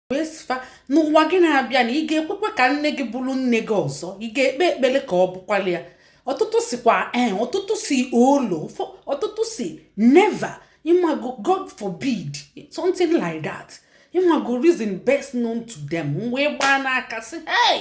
wee sị fa n'ụwa gị na-abịa na ị ga-ekwekwa ka nne gị bụrụ nne gị ọzọ ị ga-ekpe ekpere ka ọ bụkwala ya ọtụtụ sịkwa ee ọtụtụ sị olo ọtụtụ sị never ịmago god forbid something like that ịmago reason best known to them wee gbaa n'aka sị hey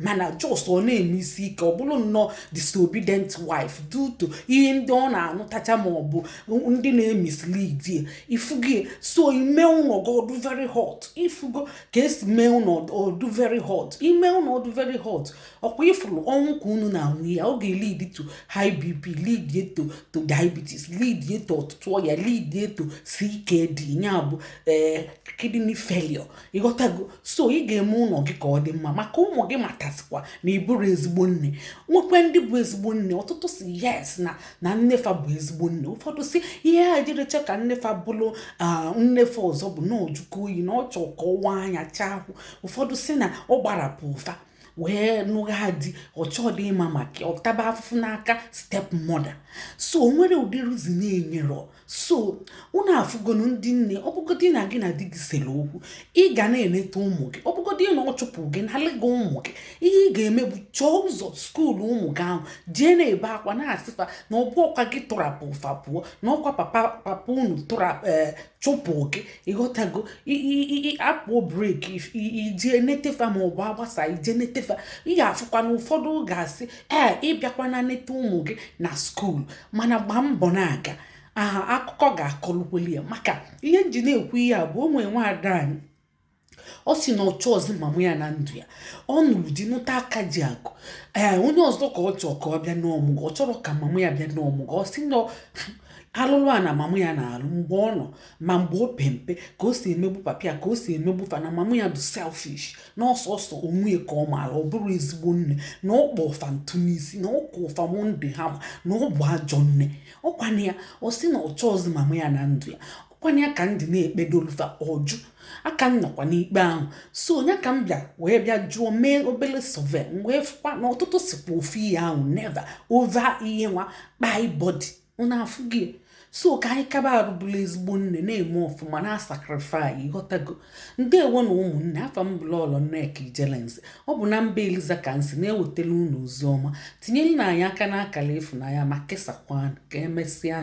mana just ọ na-eme isi ike ọ bụrụ nnọọ disobedient wife due to ihe ndị ọ na-anụtacha ma ọ bụ ndị na-emislead ya ifugo so ị mee ụnọ gị ọ dụ very hot ifugo ka e si eme ụnọ ọ dụ very hot ị mee ụnọ ọ dụ very hot ọkwa ị fụrụ ọnwụ ka unu na-anwụ ya ọ ga-elead to high bp lead ye to to diabetes lead ye to ọtụtụ ọya lead ye to ckd ya bụ eh, kidney failure ịghọtago so ị ga-eme ụnọ gị ka ọ dị mma maka ụmụ gị matasịkwa na ị bụrụ ezigbo nne nwekwa ndị bụ ezigbo nne ọtụtụ sị yes na na nne fa bụ ezigbo nne ụfọdụ sị ihe ha ejirọ chọọ ka nne fa bụrụ nne fa ọzọ bụ na ọ jụka oyi na ọ chọọ ka ọ waa anya chaa ahụ ụfọdụ sị na ọ gbarapụụ fa wee nụgha di ọ chọdị ịma maka ọ taba afụfụ n'aka step mother so o nwere ụdị reason ha nyere so unu afụgonụ ndị nne ọ bụgodi na gị na di gị sere okwu ị ga na-eleta ụmụ gị ọ bụgodi na ọ chụpụ gị nalị gị ụmụ gị ihe ị ga-eme bụ chọọ ụzọ school ụmụ gị ahụ jee na-ebe akwa na-asị fa na ọ bụrọkwa gị tụrapụụ fa pụọ na ọkwa papa papa unu tụrapụ ee eh, chụpụ gị ịghọtago a pụọ break ị jee nete fa ma ọ bụ a gbasaa ị jee nete fa ị ga-afụkwa na ụfọdụ ga-asị ee eh, ị bịakwana neta ụmụ gị na school mana gbaa mbọ na-aga aha akụkọ ga-akọlukweli ya maka ihe m ji na-ekwu ihe a bụ o nwere nwaada anyị ọ sị na ọ chọọzị mama ya na ndụ ya ọ nụrụ di nụta aka ji akụ ee onye ọzọ ka ọ chọọ ka ọ bịa n'ọmụgwọ ọ chọrọ ka mama ya bịa n'ọmụgwọ ọ sị na alụlụ ana mama ya na-alụ mgbe ọ nọ ma mgbe o pe mpe ka o si emegbu papa ya ka o si emegbu fa na mama ya dụ selfish na ọ sọsọ onwe ya ka ọ maara ọ bụrọ ezigbo nne na ọ kpọọ fa ntụ n'isi na ọ kụọ fa monday hammer na ọ bụ ajọ nne ọkwana ya ọ sị na ọ chọọzi mama ya na ndụ ya ọkwana ya ka ndị na-ekpedolu fa ọ jụ a ka nọkwa n'ikpe ahụ so ọ ya ka m bịa wee bịa jụọ mee obere survey wee fụkwa na ọtụtụ sịkwa ofu ihe ahụ never over ihe nwa kpai body unu afụgo ya so ka anyị kaba arụ bụrụ ezigbo nne na-eme ọfụma na-asacrifice ịghọtago ndewo nụ ụmụnne afa m bụ lọlọ nneka ijele nze ọ bụ na mba eliza ka m si na-ewetara unu ozi ọma tinyerenụ anyị aka n'akara ịfụnanya ma kesakwanụ ka emesịa